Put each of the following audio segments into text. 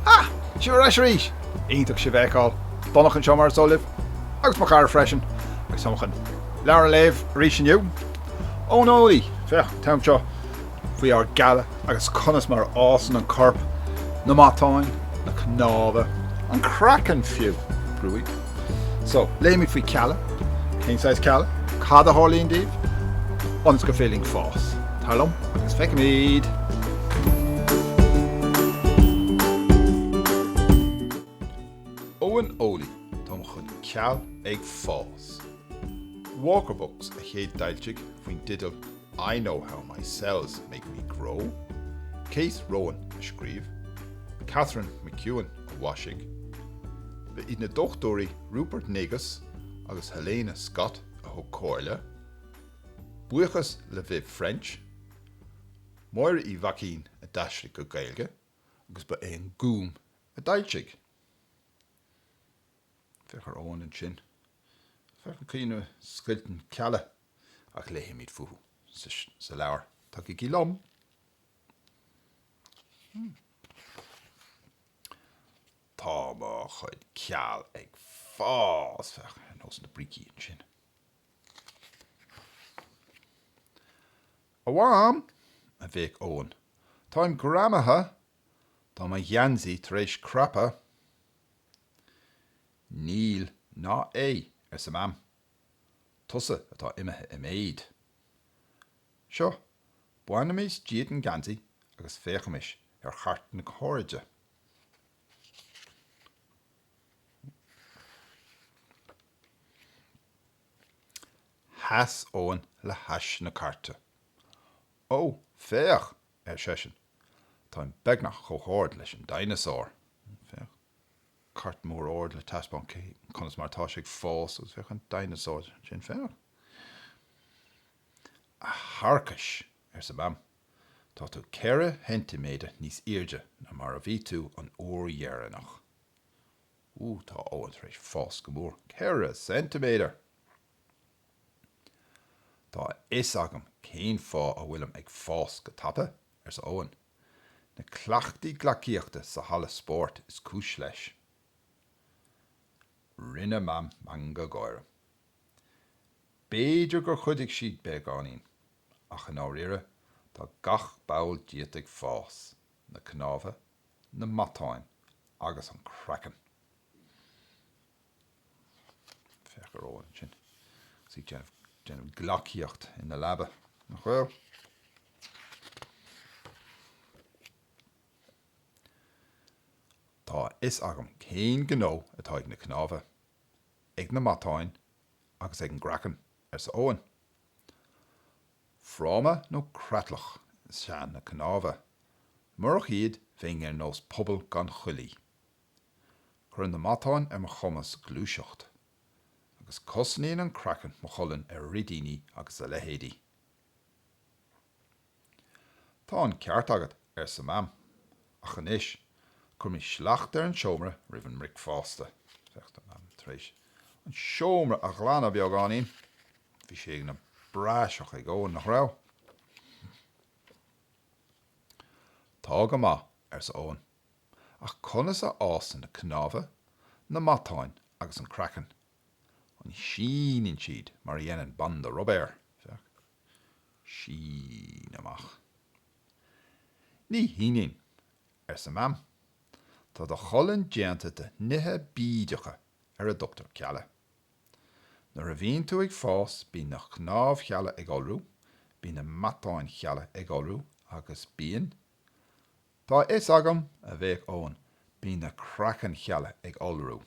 Ha! Sibh ar ais arís! Iontach sibh a fheiceáil. Donncha anseo mar is eol libh, agus mo chara freisin, agus táim chun leabhar a léamh arís inniu. Eoin Eolaí! Féach, an t-am seo faoi ár gcealla agus conas mar a fhásann an corp, na matáin, na cnámha, an craiceann fiú! Brúigh. So, léimid faoi chealla, cén saghas cealla, cad a tharlaíonn dóibh, ionas gur féidir linn fás. Tar liom agus feicfimid! Eoin Eolaí Tá mo chuid ceall ag fás. Walker Books a chéad d'fhoilsigh faoin dteideal I know how my cells make me grow', Kate Rowan a scríobh, Catherine McEwen a mhaisigh, ba iad na Dochtúirí Rupert Negus agus Helena Scott a thug comhairle, buíochas le Viv French, Máire Uí Mhaicín a d'aistrigh go Gaeilge agus ba é an Gúm a d'fhoilsigh. Féach ar Eoin ansin. Féach ar an gcaoi ina scoilteann cealla. ach léifimid fúthu sa leabhar. Tagaigí liom. Tá mo chuid ceall ag fás féach ar nós na brící ansin. A Mham, a bhéic Eoin, táim greamaithe tá mo gheansaí tar éis crapadh. Níl ná é, arsa Mam. Tusa atá imithe i méid. Seo, bainimis díot an geansaí agus féachaimis ar chairt na hairde. Sheas Eoin le hais na cairte. Ó, féach, ar seisean, táim beagnach chomh hard leis an dineasár. Féach. cairt mór ard le taispeáint conas mar atá sé ag fás agus féach an dineasár ansin freisin. A thiarcais! arsa Mam. Tá tú ceithre cheintiméadar níos airde ná mar a bhí tú an uair dheireanach. Ú, tá Eoin tar éis fás go mór. Ceithre cheintiméadar! Tá a fhios agam cén fáth a bhfuilim ag fás go tapa, arsa Eoin. Na cleachtaí gleacaíochta sa halla spóirt is cúis leis. Rinne Mam meangadh gáire. B'fhéidir gur chuidigh siad beagáinín, ach i ndáiríre tá gach ball díot ag fás, na cnámha, na matáin agus an craiceann. Féach ar Eoin ansin. Is é ag déanamh gleacaíocht ina leaba, nach bhfuil? Tá a fhios agam cén gnó atá ag na cnámha, ag na matáin agus ag an gcraiceann, arsa Eoin. Fráma nó creatlach is ea na cnámha. Murach iad bheinn ar nós puball gan chuaillí. Cuireann na matáin ar mo chumas gluaiseacht. Agus cosnaíonn an craiceann mo cholainn ar fhridíní agus a leithéidí. Tá an ceart agat, arsa Mam. Ach anois, cuirimis slacht ar an seomra roimh an mbricfeasta. Féach, tá Mam tar éis an seomra a ghlanadh beagáinín. Bhí sé ina phraiseach ag Eoin, nach raibh? Tá go maith, arsa Eoin. Ach conas a fhásann na cnámha, na matáin agus an craiceann? An síneann siad mar a dhéanann banda rubair, sín amach. Ní shíneann, arsa Mam. Tá do cholainn déanta de nithe bídeacha ar a dtugtar cealla. Nuair a bhíonn tú ag fás bíonn na cnámhchealla ag iolrú, bíonn na matánchealla ag iolrú agus bíonn Tá a fhios agam, a bhéic Eoin, bíonn na craiceannchealla ag iolrú.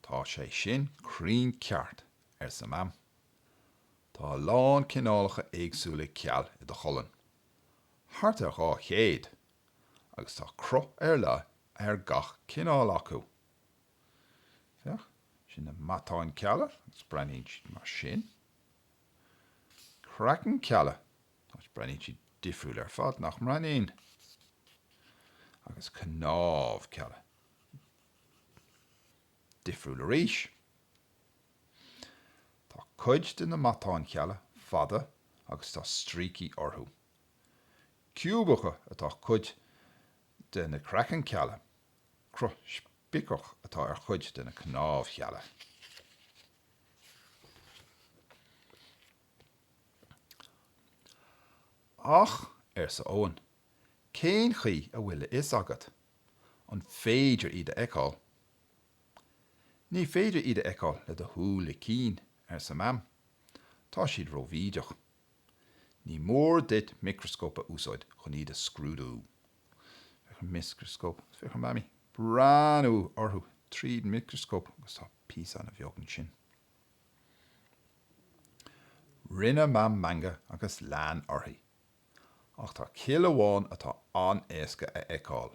Tá sé sin cruinn ceart, arsa Mam. Tá a lán cineálacha éagsúla ceall i do cholainn, thart ar dhá chéad, agus tá cruth ar leith ar gach cineál acu. Féach, sin na matáin cealla, agus breathnaíonn siad mar sin. Craiceann cealla, agus breathnaíonn siad difriúil ar fad, nach mbreathnaíonn? Agus cnámh cealla. Difriúil arís. Tá cuid de na matáin cealla fada agus tá stríocaí orthu. Ciúbach atá cuid de na craiceann cealla, Cruth spiceach atá ar chuid de na cnámhchealla. Ach, arsa Eoin, cén chaoi a bhfuil a fhios agat? An féidir iad a fheiceáil? Ní féidir iad a fheiceáil le do shúile cinn, arsa Mam. Tá siad róbhídeach. Ní mór duit micreascóp a úsáid chun iad a scrúdú. Féach ar an micreascóp. Féach an Mammy. Breathnú orthu tríd micreascóp agus tá píosaanna beaga ansin. Rinne Mam meangadh agus lean uirthi. Ach tá cill amháin atá an-éasca a fheiceáil.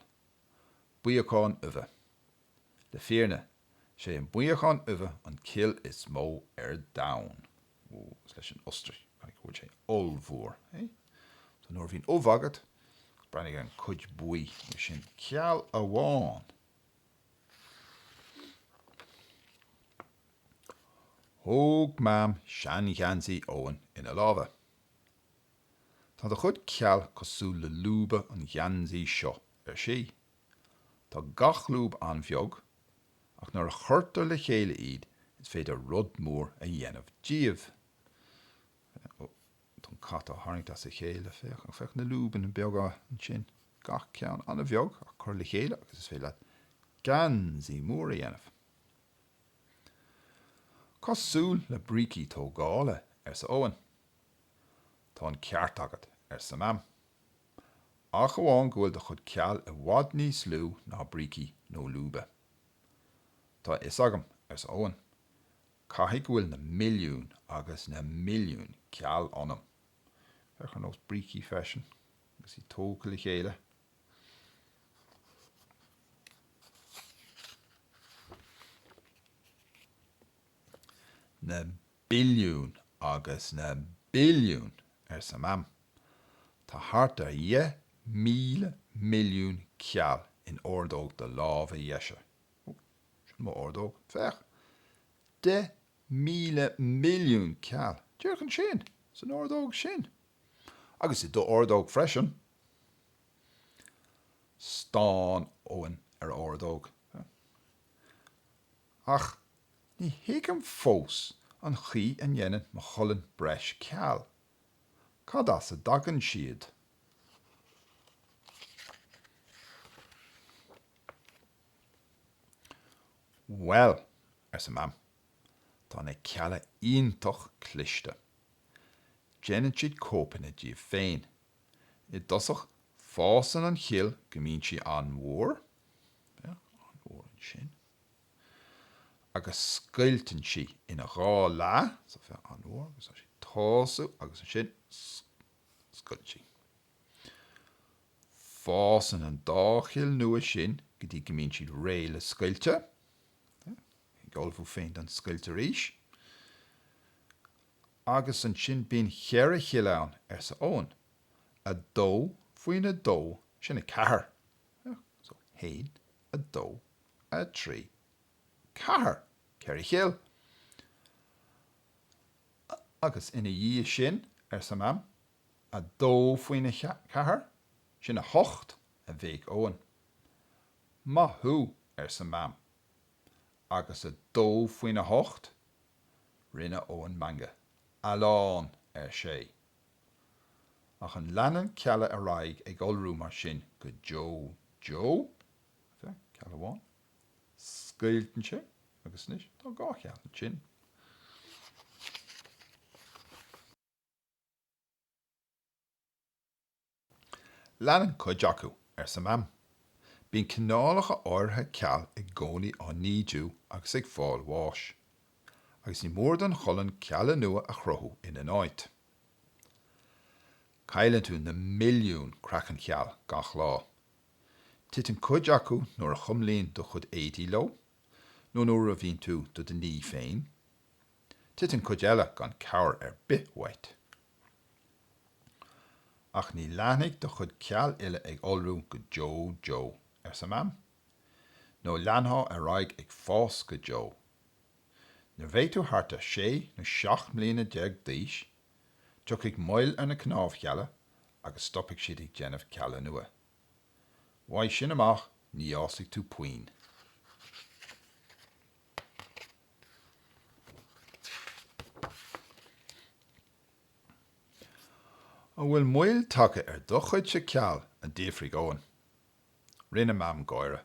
Buíocán uibhe. Le fírinne, sé an buíochán uibhe an cill is mó ar domhan. Ó, is leis an ostrais, caithfidh go bhfuil sé ollmhór, hé? So nuair a bhíonn ubh agat, breathnaigh an cuid buí, mar sin, ceall amháin. Thóg Mam seangheansaí Eoin ina lámha. Tá do chuid ceal cosúil le lúba an gheansaí seo, ar sí. Tá gach lúb an-bheag ach nuair a chuirtear le chéile iad is féidir rud mór a dhéanamh díobh. Ó, tá an cat á tharraingt as a chéile, féach, féach na lúbanna beaga ansin, gach ceann an-bheag ach cur le chéile agus is féidir leat geansaí mór a dhéanamh. Cosúil le brící tógála, arsa Eoin. Tá an ceart agat, arsa Mam. ach amháin go bhfuil do chuid ceall i bhfad níos lú ná brící nó lúba. Tá a fhios agam, arsa Eoin. Caithfidh go bhfuil na milliúin agus na milliúin ceall ionam. Féach ar nós brící freisin agus iad tógtha le chéile. Na billiún agus na billiún, arsa Mam. Tá thart ar dheich míle milliún ceall in ordóg do láimhe dheise. Ó, sin mo ordóg. Féach. Deich míle milliún ceall, díreach ansin, san ordóg sin. Agus i d'ordóg freisin. Stán Eoin ar a ordóg. Ach ní thuigim fós an chaoi a ndéanann mo cholainn breis ceal. Cad as a dtagann siad? Bhuel, arsa Mam, tá na cealla iontach cliste. Déanann siad cóipeanna díobh féin. I dtosach fásann an chill go mbíonn sí an-mhór, féach, an-mhór ansin. agus scoilteann sí ina dhá leath so féach an-mhór agus tá sí ag tosú agus ansin scoilteann sí. Fásann an dá chill nua sin go dtí go mbíonn siad réidh le scoilteadh, á ullmhú féin don scoilt arís. Agus ansin bíonn cheithre chill ann, arsa Eoghan. A dó faoin a dó sin a ceathair. So haon, a dó, a trí, ceathair, ceithre chill. A, agus ina dhiaidh sin, arsa Mam. A dó faoina ceathair, sin a hocht, a bhéic Eoghan. Maith thú, arsa Mam. Agus a dó faoina hocht? Rinne Eoghan meangadh. A lán, ar sé. Ach an leanann cealla ar aghaidh ag iolrú mar sin go deo deo? OK, cill amháin. Scoilteann sé agus anois tá dhá chill ansin. Leanann cuid acu, arsa Mam. Bíonn cineálacha áirithe ceal i gcónaí á n-ídiú agus ag fáil bháis. Agus ní mór don cholainn cealla nua a chruthú ina n-áit. Cailleann tú na milliún craiceanncheall gach lá. Titeann cuid acu nuair a chuimlíonn do chuid éadaí leo, nó nuair a bhíonn tú do do ní féin. Titeann cuid eile gan cabhair ar bith uait. Ach ní leanfaidh do chuid ceal uile ag iolrú go deo deo, arsa Mam, nó leanfá ar aghaidh ag fás go deo. Nuair a bheidh tú thart ar sé nó seacht mbliana déag d'aois, Tiocfaidh moill ar na cnámhchealla agus stopfaidh siad ag déanamh cealla nua. Uaidh sin amach ní fhásfaidh tú puinn. An bhfuil moill tagtha ar do chuidse ceall? a d'fhiafraigh Eoghan. Rinne Mam gáire.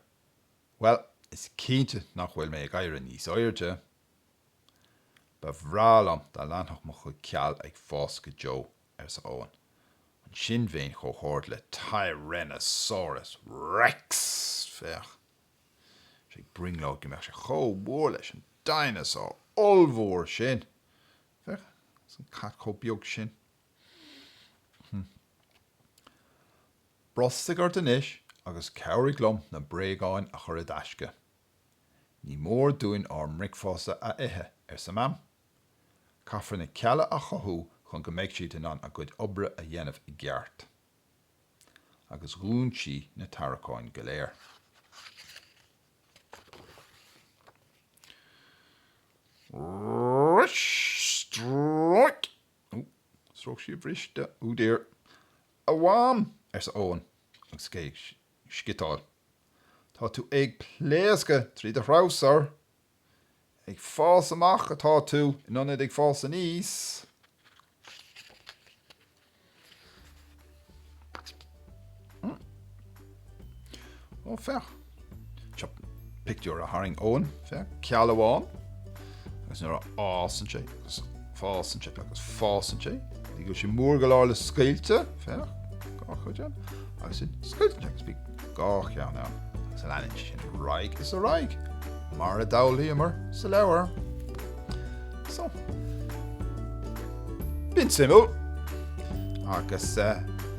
Bhuel, is cinnte nach bhfuil mé ag éirí níos airde. Ba bhreá liom dá leanfadh mo chuid ceal ag fás go deo, arsa Eoghan. Ansin bheinn chomh hard le Tyrannosaurus Rex, féach. Sé ag brionglóid go mbeadh sé chomh mór leis an dineasár ollmhór sin. Féach, is an cat chomh beag sin. Hm. Brostaigh ort anois agus cabhraigh liom na bréagáin a chur i dtaisce. Ní mór dúinn ár mbricfeasta a ithe, arsa Mam. Caithfear na cealla a chothú chun go mbeidh siad in ann a gcuid oibre a dhéanamh i gceart. Agus dhún sí na tarraiceáin go léir. Stróic! Ó, stróic sí a bhriste. Oh dear. A Mham! arsa Eoghan agus é Sciotaíl. Tá tú ag pléascadh trí do threabhsar. Ag fás amach atá tú in ionad ag fás aníos. Ó, féach. Seo pictiúr a tharraing Eoghan féach ceal amháin agus nuair a fhásann sé agus fásann sé agus fásann sé nó go bhfuil sé mór go leor le scoilteadh, féach, dhá chuid ann, agus ansin scoilteann sé agus bíonn dhá cheann ann agus leanann sé sin ar aghaidh is ar aghaidh mar a d'fhoghlaíomar sa leabhar. So, b'in suimiúil agus eh.